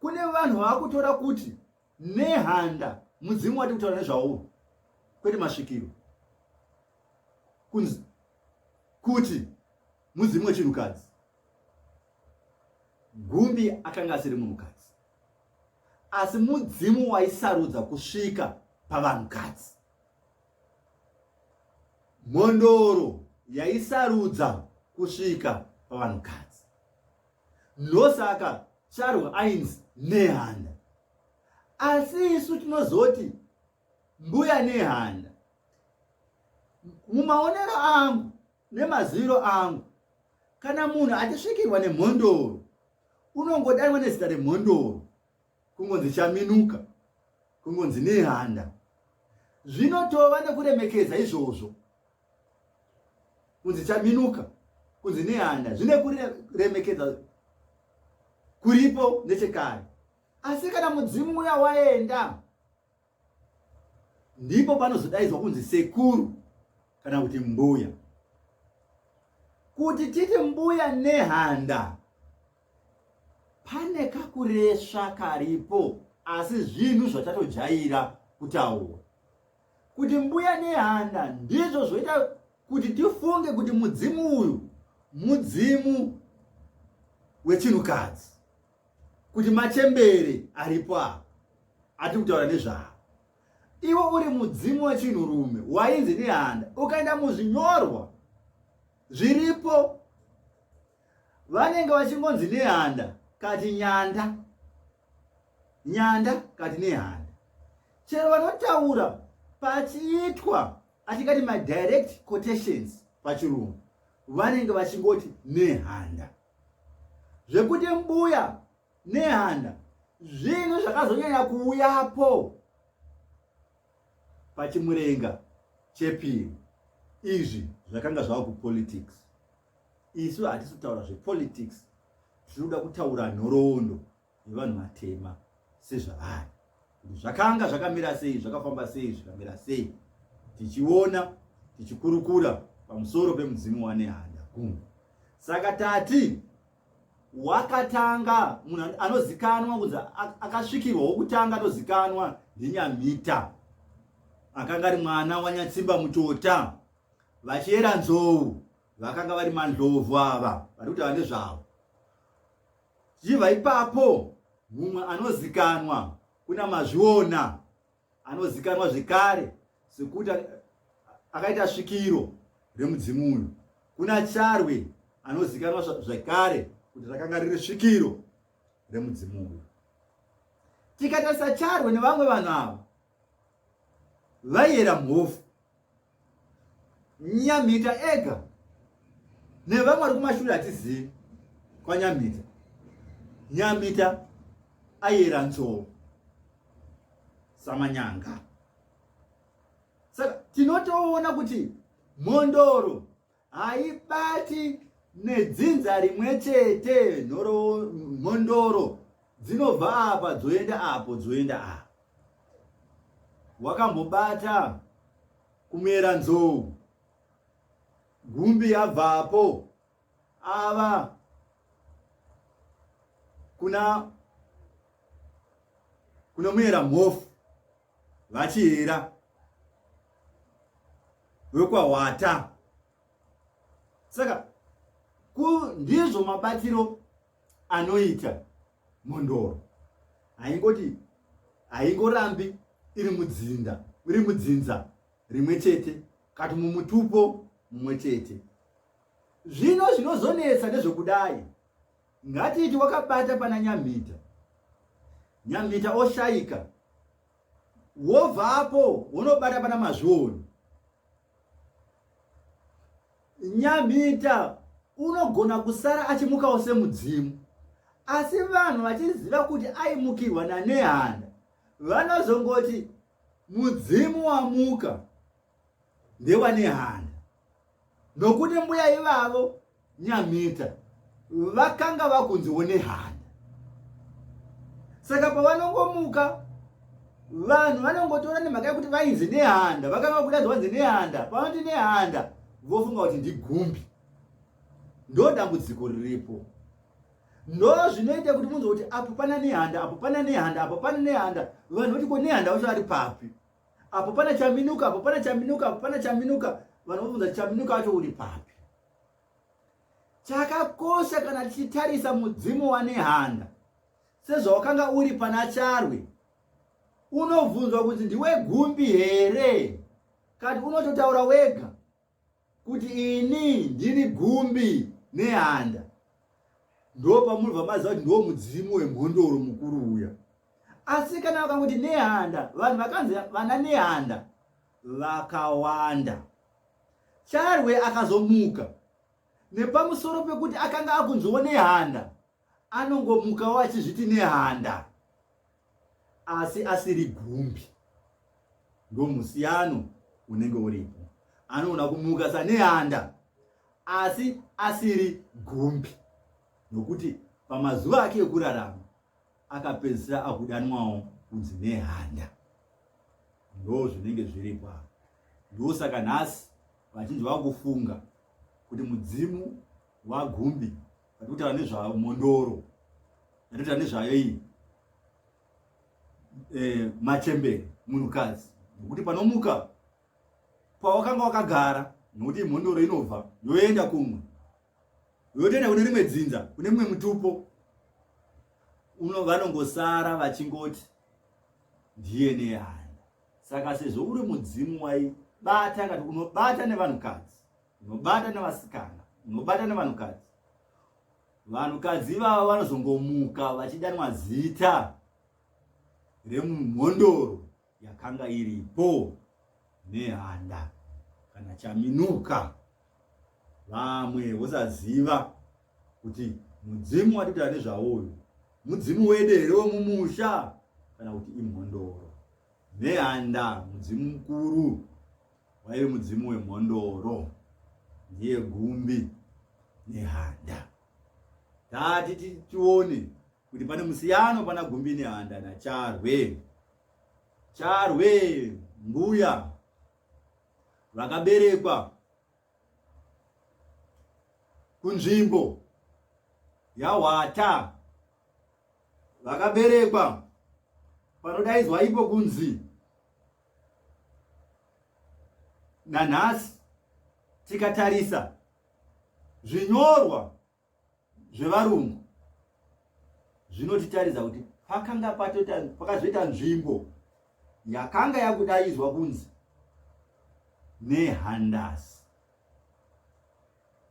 kune vanhu vakutora kuti nehanda mudzimu wati kutaura nezvawo kwete masvikiro kunzi kuti mudzimu wechinhukadzi gumbi akanga asiri munhukadzi asi mudzimu waisarudza kusvika pavanhukadzi mhondoro yaisarudza kusvika pavanhukadzi ndosaka charwa ainzi nehanda asi isu tinozoti mbuya nehanda mumaonero angu nemaziviro angu kana munhu achisvikirwa nemhondoro unongodanwa nezita remhondoro kungonzi chaminuka kungonzi nehanda zvinotova nekuremekedza izvozvo kunzi chaminuka kunzi nehanda zvine kuremekedza kuripo nechekare asi kana mudzimu uya waenda ndipo panozodaidzwa kunzi sekuru kana kuti mbuya kuti titi mbuya nehanda pane kakuresva karipo asi zvinhu zvatatojaira kutaura kuti mbuya nehanda ndizvo zvoita kuti tifunge kuti mudzimu uyu mudzimu wechinhukadzi kuti machembere aripo avo atiri kutaura nezvavo iwe uri mudzimu wechinhurume wainzi nehanda ukaenda muzvinyorwa zviripo vanenge vachingonzi nehanda kati nyanda nyanda kati nehanda chero vanotaura pachiitwa atingati madirect quotations pachirungu vanenge vachingoti nehanda zvekuti mbuya nehanda zvinhu zvakazonyanya kuuyapo pachimurenga chepiri izvi zvakanga zvava kupolitics isu hatisi kutaura zvepolitics tiri kuda kutaura nhoroondo nevanhu vatema sezvavari zvakanga zvakamira sei zvakafamba sei zvikamira sei tichiona tichikurukura pamusoro pemudzimu wanehanda kunge saka tati wakatanga munhu anozikanwa kunzi akasvikirwa wokutanga anozikanwa ndinyamhita akanga ari mwana wanyatsimba mutota vachiyera nzou vakanga vari mandlovu ava vari kutaura nezvavo Chibva ipapo mumwe anozikanwa kuna mazviona anozikanwa zvekare sekuti akaita svikiro remudzimu uyu kuna charwe anozikanwa zvekare kuti rakanga riri svikiro remudzimu uyu tikatarisa charwe nevamwe vanhu ava vaiyera mhofu Nyamhita ega nevamwe vari kumashure hatizivi kwanyamhita nyamhita ayera nzou samanyanga saka tinotoona kuti mhondoro haibati nedzinza rimwe chete mhondoro dzinobva apa dzoenda apo dzoenda apa wakambobata kumera nzou gumbi yabvapo ava kuna kunomuyera mhofu vachihera vekwahwata saka ndizvo mabatiro anoita mhondoro haingoti haingorambi iri mudzinda iri mudzinza rimwe chete kati mumutupo mumwe chete zvino zvinozonetsa nezvekudai Ngatiti wakabata pana Nyamhita, Nyamhita oshaika, wobvapo wonobata pana Mazvioni. Nyamhita unogona kusara achimukawo semudzimu, asi vanhu vachiziva kuti aimukirwa naNehanda vanozongoti mudzimu wamuka. ndevane hana nokuti mbuya ivavo nyamita vakanga vakunziwo nehana saka pavanongomuka vanhu vanongotora nemhaka yekuti vainzi nehanda vakanga vakuda zvanzi nehanda pavanoti nehanda vofunga kuti ndigumbi ndo dambudziko riripo ndo zvinoita kuti munzwa kuti apo pana nehanda apo pana nehanda apo pana nehanda vanhu voti ko nehanda vacho vari papi apo pana chaminuka apo pana chaminuka apo pana chaminuka vanobvunza chaminuka acho uri papi chakakosha kana tichitarisa mudzimu wanehanda sezvawakanga uri pana charwe unobvunzwa kuti ndiwe gumbi here kati unototaura wega kuti ini ndiri gumbi nehanda ndo pamunobva maziva kuti ndo mudzimu wemhondoro mukuru uya asi kana vakanguti nehanda vanhu vakanzi vana nehanda vakawanda charwe akazomuka nepamusoro pekuti akanga akunziwo nehanda anongomukawo achizviti nehanda asi asiri gumbi ndomusiyano unenge uripo anogona kumuka sanehanda asi asiri gumbi nokuti pamazuva ake ekurarama akapedzisira akudanwawo kunzi nehanda ndo zvinenge zviripo apa ndosaka nhasi vachinzi vakufunga kuti mudzimu wagumbi vari kutaura nezvayo mondoro vari kutaura nezvayo iyi eh, machembere munhukadzi nokuti panomuka pawakanga wakagara nokuti imhondoro inobva yoenda kumwe yotoenda kune rimwe dzinza kune mumwe mutupo uno vanongosara vachingoti dna haya saka sezvo uri mudzimu waibata kati unobata nevanhukadzi unobata nevasikana unobata nevanhukadzi vanhukadzi ivava vanozongomuka vachidanwa zita remumhondoro yakanga iripo nehanda kana chaminuka vamwe vosaziva kuti mudzimu watitaura nezvawo uyu mudzimu wede here wemumusha kana kuti imhondoro nehanda mudzimu mukuru Waive mudzimu wemhondoro ndiye gumbi nehanda. Tati tione kuti pane musiyano pana gumbi nehanda nacharwe. Charwe mbuya vakaberekwa kunzvimbo yahwata vakaberekwa panodaidzwa ipo kunzi nanhasi tikatarisa zvinyorwa zvevarungu zvinotitaridza kuti pakanga pakazoita nzvimbo yakanga yakudaidzwa kunzi nehandasi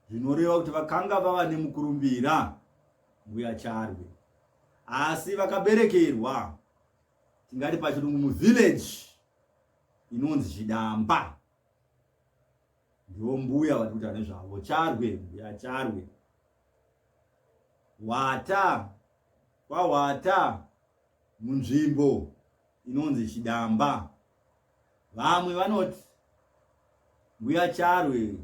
zvinoreva kuti vakanga vava nemukurumbira mbuya charwe asi vakaberekerwa tingati pachirungu muvillage inonzi chidamba ndiwo mbuya vari kuita nezvavo charwe mbuya charwe wata kwawata munzvimbo inonzi chidamba Vamwe vanoti mbuya Charwe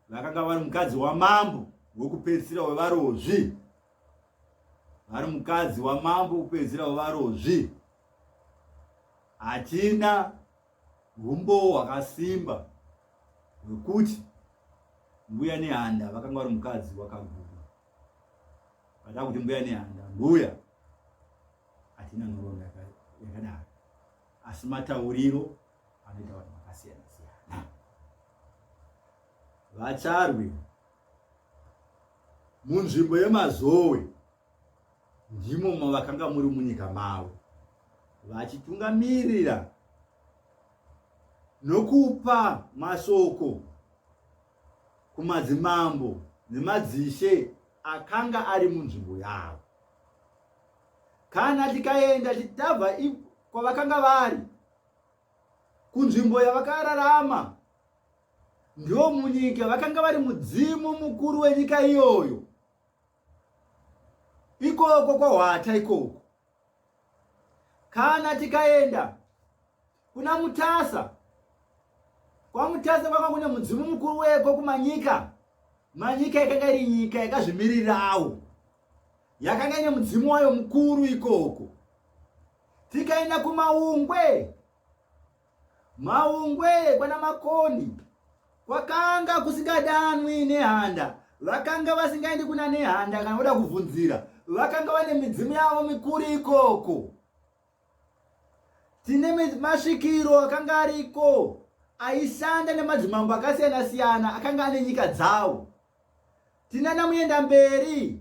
vakanga vari mukadzi wamambo wokupedzisira wevarozvi vari mukadzi wamambo wokupedzisira wevarozvi hatina humbowo hwakasimba hwekuti mbuya nehanda vakanga vari mukadzi wakaguma vada kuti mbuya nehanda mbuya hatina nhoroondo yakadaro asi matauriro anoita vanhu vakasiyana siyana vacharwi munzvimbo yemazowe ndimo mavakanga muri munyika mavo vachitungamirira nokupa mashoko kumadzimambo nemadzishe akanga ari munzvimbo yavo kana tikaenda titabva kwavakanga vari kunzvimbo yavakararama ndiwo munyika vakanga vari mudzimu mukuru wenyika iyoyo ikoko kwahwata ikoko kana tikaenda Kuna Mutasa. Kwa Mutasa kwanga kune mudzimu mukuru weko kumanyika. Manyika yakanga iri nyika yakazvimirirawo. Yakanga ine mudzimu wayo mukuru ikoko. Tikaenda kumaungwe. Maungwe kwana Makoni. Kwakanga kusingadanwi nehanda. Vakanga vasingaendi kuna nehanda kana voda kuvhunzira. Vakanga vane midzimu yavo mikuru ikoko. dzine masvikiro akanga ariko aishanda nemadzimambo akasiyana siyana akanga ane nyika dzawo tinana muenda mberi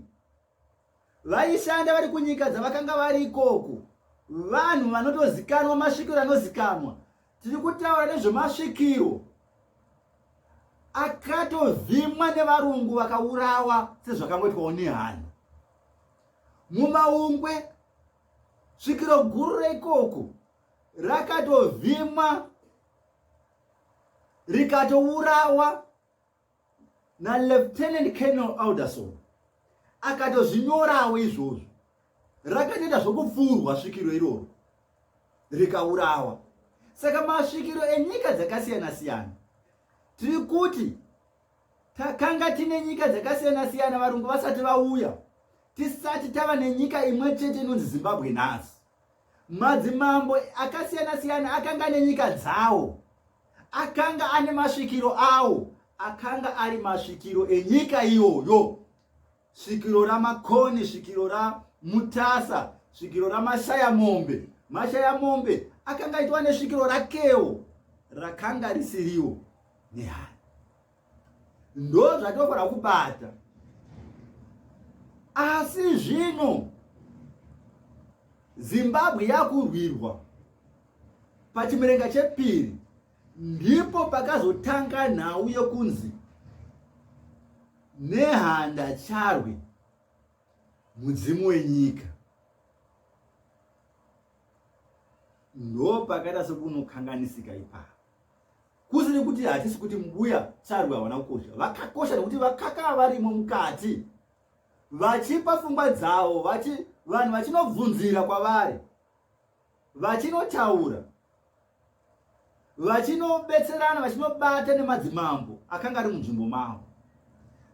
vaishanda vari kunyika dzavakanga vari ikoko vanhu vanotozikanwa masvikiro anozikanwa tiri kutaura nezvemasvikiro akatovhimwa nevarungu vakaurawa sezvakangoitwawo nehana mumaungwe svikiro guru reikoko rakatovhimwa rikatourawa nalieutenant colonel alderson akatozvinyorawo izvozvo rakatoita zvokupfuurwa svikiro iroro rikaurawa saka masvikiro enyika dzakasiyana siyana tiri kuti Takanga tine nyika dzakasiyana siyana varungu vasati vauya, tisati tava nenyika imwe chete inonzi Zimbabwe nhasi. Madzimambo akasiyana siyana akanga ane nyika dzawo, akanga ane masvikiro awo, akanga ari masvikiro enyika iyoyo. svikiro ramakoni svikiro ramutasa svikiro ramashaya mombe mashaya mombe akanga aitwa nesvikiro rakewo rakanga risiriwo nehana ndo zvatinofanira kubata asi zvino zimbabwe yakurwirwa pachimerenga chepiri ndipo pakazotanga nhau yokunzi Nehanda Charwe mudzimu wenyika ndopakaita sekunokanganisika ipapo kusiri kuti hatisi kuti mbuya charwe havana kukosha vakakosha nekuti vakakaa varimo mukati vachipa fungwa dzavo vanhu vachinobvunzira kwavari vachinotaura vachinobetserana vachinobata nemadzimambo akanga ari munzvimbo mavo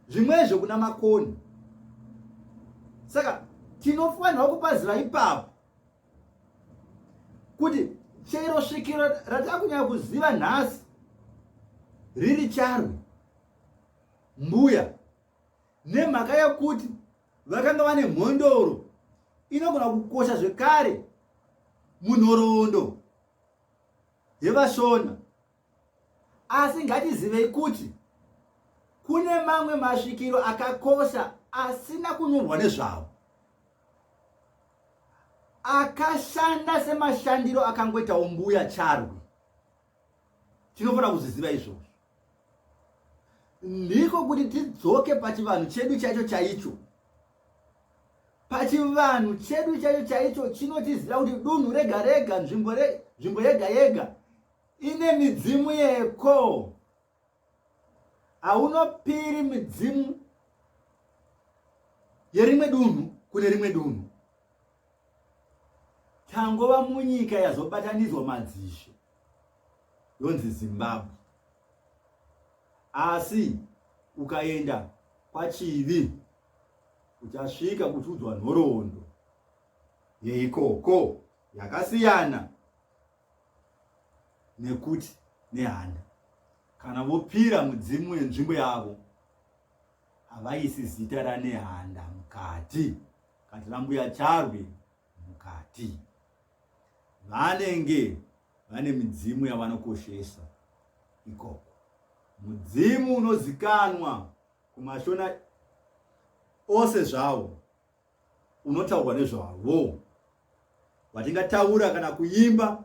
zvimwezvo kuna makoni saka tinofanirwa kupaziva ipapo kuti chero svikiro ratakunyanya kuziva nhasi riri charwe mbuya nemhaka yokuti vakanga vane mhondoro inogona kukosha zvekare munhoroondo yevashona asi ngatizivei kuti kune mamwe masvikiro akakosha asina kunyorwa nezvavo akashanda semashandiro akangoitawo mbuya charwi tinofanira kuzviziva izvozvo ndiko kuti tidzoke pachivanhu chedu chaicho chaicho pachivanhu chedu chaicho chaicho chinotiziva kuti dunhu rega rega nzvimbo nzvimbo yega yega ine midzimu yeko haunopiri midzimu yerimwe dunhu kune rimwe dunhu tangova munyika yazobatanidzwa madzishe yonzi zimbabwe asi ukaenda kwachivi uchasvika kuchiudzwa nhoroondo yeikoko yakasiyana nekuti nehanda kana vopira mudzimu wenzvimbo yavo havaisi zita ranehanda mukati kati rambuya charwe mukati vanenge vane midzimu yavanokoshesa ikoko. Mudzimu unozikanwa kumashona ose zvawo unotaurwa nezvavo watingataura kana kuimba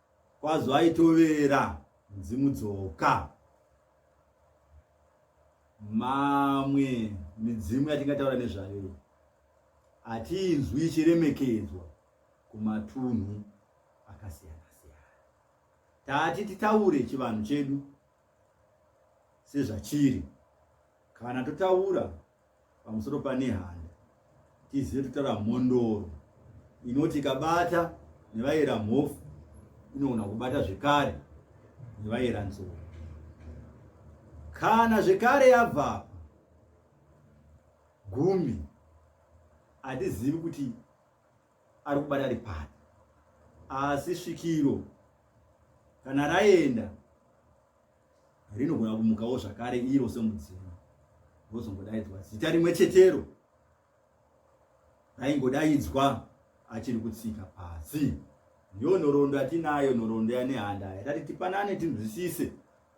Kwazo aitovera mudzimu dzoka. Mamwe midzimu yatingataura nezvayo hatiinzwi ichiremekedzwa kumatunhu akasiyana siyana. Tati titaure chivanhu chedu sezvachiri kana totaura pamusoro pane handa tizive kutaura mhondoro inoti ikabata nevaera mhofu inogona kubata zvekare nevaera nzou kana zvekare yabvapa gumi hatizivi kuti ari kubata ari pari asi svikiro kana raenda rinogona kumukawo zvakare iro semudzimu rozongodaidzwa zita rimwe chetero raingodaidzwa achiri kutsika pasi ndiyo nhoroondo yatinayo nhoroondo yanehanda yatati tipanane tinzwisise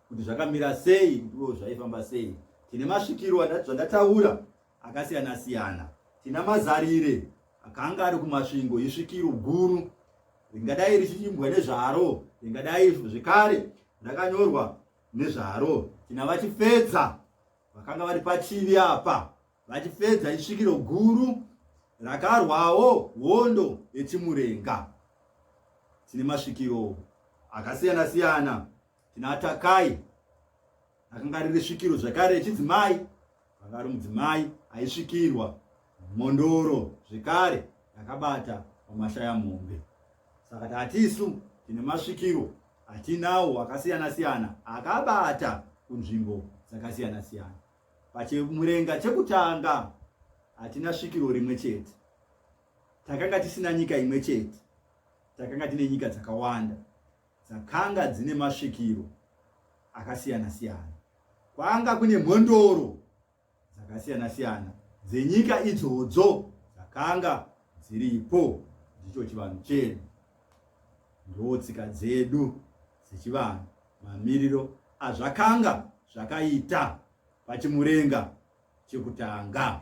kuti zvakamira sei kutiwo zvaifamba sei tine masvikiro zvandataura akasiyana-siyana. Tina Mazarire akanga ari kuMasvingo isvikiro guru ringadai richichimbwa nezvaro, ringadai zvekare rakanyorwa nezvaro. Tina VaChifedza vakanga vari pachivi apa, VaChifedza isvikiro guru rakarwawo hondo yeChimurenga. Tine masvikiro akasiyana-siyana Tinatakai akanga ari risvikiro zvekare echidzimai akanga ari mudzimai aisvikirwa mhondoro zvekare yakabata pamashaya mombe saka tatisu tine masvikiro atinawo akasiyana siyana akabata kunzvimbo dzakasiyana siyana pachimurenga chekutanga hatina svikiro rimwe chete takanga tisina nyika imwe chete takanga tine nyika dzakawanda dzakanga dzine masvikiro akasiyana-siyana. Kwanga kune mhondoro dzakasiyana-siyana dzenyika idzodzo dzakanga dziripo. Ndicho chivanhu chedu, ndoo tsika dzedu dzechivanhu, mamiriro azvakanga zvakaita pachimurenga chekutanga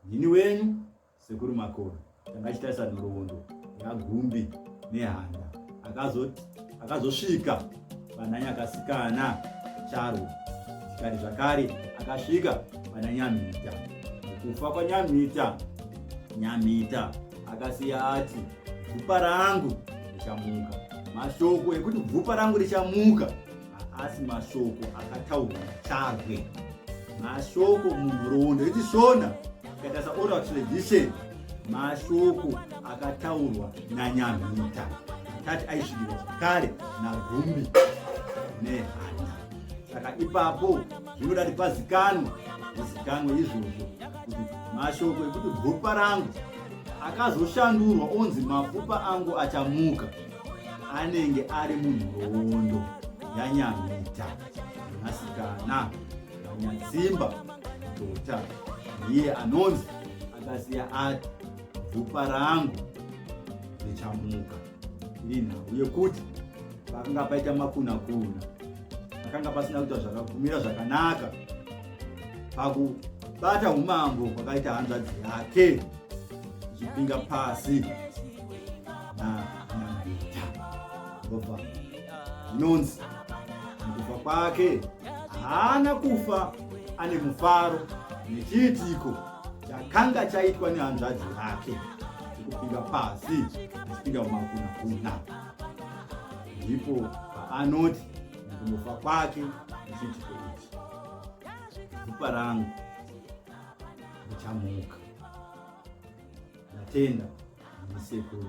ndini wenyu sekuru makona tanga achitarisa nhoroondo yagumbi nehanda akazosvika vananya akasikana charwo zvikari zvakare akasvika pana nyamhita kufa kwanyamhita nyamhita akasiya ati bvupa rangu richamuka mashoko ekuti bvupa rangu richamuka haasi mashoko akataurwa charwe mashoko munhoroondo yechishona ikaita saoral tradition mashoko akataurwa nanyamhita tati aisvikirwa zvakare nagumbi nehana saka ipapo zvinoda kuti pazikanwa zikanwa izvozvo kuti mashoko ekuti gupa rangu akazoshandurwa onzi mapfupa angu achamuka anenge ari munhoroondo yanyamita mwanasikana wanyasimba dota ndiye anonzi akasiya ati bvupa rangu richamuka iri nhau yekuti pakanga paita makunakuna pakanga pasina kuita zvakakumira zvakanaka pakubata umambo kwakaita hanzvadzi yake ichipinga pasi Ropa zvinonzi mukufa kwake haana kufa ane mufaro nechiitiko chakanga chaitwa nehanzvadzi yake chekupinda pasi achipinda mumakunakuna ndipo paanoti mukufa kwake nechiitiko ichi gupa rangu richamuka Natenda, Sekuru.